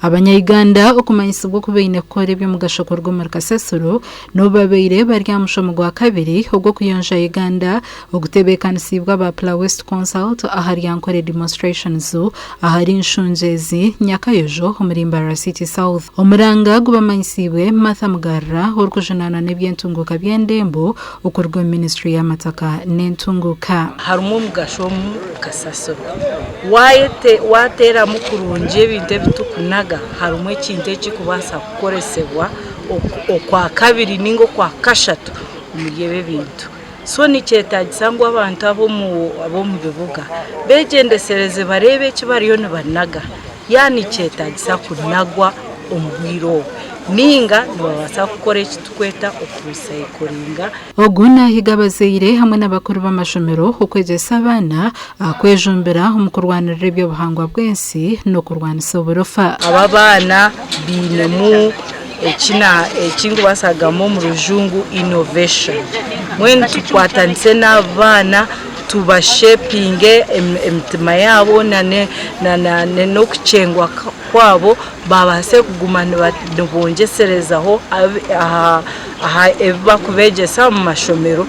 Abanya Uganda okumanyisibwa oku baine kukora eby'omugasho kuruga omuri kasasiro n'obu babaire bari aha mushomo gwa kabiri ogw'okuyonja Uganda ogutebeekanisiibwe aba Pla West Consult ahari Ankole Demonstration Zoo ahari Nshungyezi, Nyakayojo omuri Mbarara City South. Omuranga gu bamanyisiibwe Martha Mugarura orikujunaanwa n'ebyentunguuka by'endembo okuruga omu minisitule y'amataka n'entunguuka. Harimu omugasho omu kasasiro. Waateeramu kurungi ebintu ebi turikunaga, harimu ekintu ekirikubaasa kukoresibwa okwa kabiri nainga okwa kashatu omuri ebi ebintu. So nikyetaagisa ngu abantu ab'omu bibuga beegyendeshereze bareebe eki bariyo nibanaga. Yaba nikyetaagisa kunagwa omu bwire obu nainga nibabaasa kukora eki turikweta okurisayikoringa. Ogu naahiga abazaire hamwe n'abakuru b'amashomero okwegyesa abaana kwejumbira omu kurwanirira eby'obuhangwa bw'ensi n'okurwanisa oburofa. Aba abaana bainemu eki nkubaasa kugamba omu rujungu innovation. Mbwenu tukwatanise n'abaana tubashepinge emitima yaabo n'okukyengwa kwaabo baabaase kuguma nibongyeserezaho aha ebi barikubeegyesa omu mashomero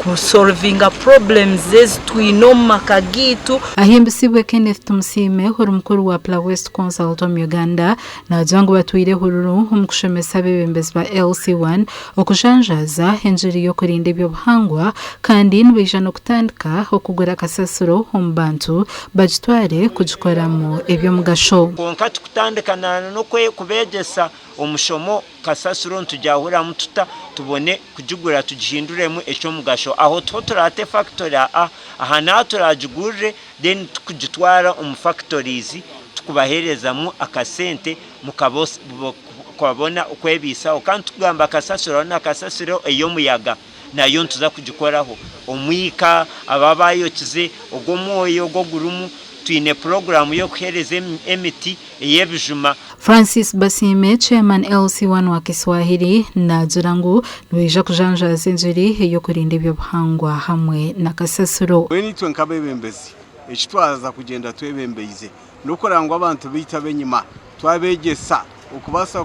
kusorovinga purobulemu ezi twine omu maka gaitu. Ahimbisibwe Kenneth Tumusiime ori mukuru wa Pla West Consult omu Uganda Naagira ngu batwire ehururu omu kushomesa abeebembezi ba LC One okujanjaaza engiri y'okurinda eby'obuhangwa kandi nibaija n'okutandika okugura kasasiro omu bantu bagitware kugikoramu eby'omugasho. Kwonka tukutandika na n'okubeegyesa omushomo kasasiro nitugyahuramu tuta tubone kugigura tugihinduremu eky'omugasho. Aho tiho turaate fakitore aa, aha n'aha turagigurire then tukugitwara omu factories tukubaherezamu akasente mukabona okwebisaho kandi tukugamba kasasiro hariho na kasasiro eyomuyaga nayo nituza kugikoraho omwika ababa bayokize ogwo omwoyo ogwo ogurumu twine program yokuhereza emiti. ey'ebijuma. Francis Basiime, Chairman LC1 wa Kiswahili, naagira ngu nibaija kujanjaaza enjeri ey'okurinda eby'obuhangwa hamwe na kasasiro. Mbwenu itwe nk'abeebembezi, eki twaza kugyenda twebembeize n'okureba ngu abantu baitu ab'enyima twabeegyesa okubaasa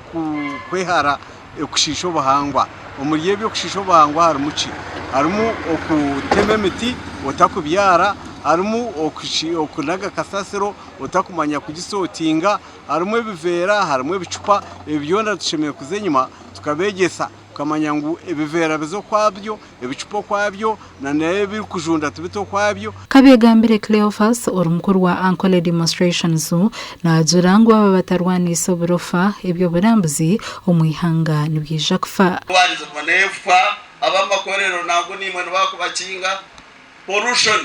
kwehara okushiisha obuhangwa. Omuri ebyo okushiisha obuhangwa harimu ki? Harimu okutema emiti otakubyara, harimu okunaga kasasiro otakumanya kugisotinga harimu ebiveera harimu ebicupa ebi byona tushemereire kuza enyuma tukabegyesa tukamanya ngu ebiveera biza okwabyo ebicupa okwabyo na n'ebirikujunda tibita okwabyo. Kabyegambire Cleophas ori mukuru wa Ankole Demonstrations naajura ngu aba batarwaniise oburofa eby'oburambuzi omu ihanga nibyija kufa. Kubanizibwa n'efuka ab'amakorero nangwa naimwe nibakubakinga, pollution.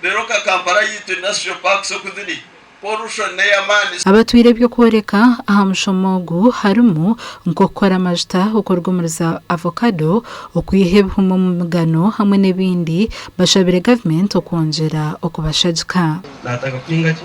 Rero nka Kampala yaitu Industrial Park oku ziri, pollution neyamaani. Abatwire eby'okworeka aha mushomo ogu harimu nk'okukora amajuta okuruga omuri za avocado, okwiha ebihumi omu migano hamwe n'ebindi. Bashabire gavumenti okwongyera okubashagika. Naataka kuhinga ki?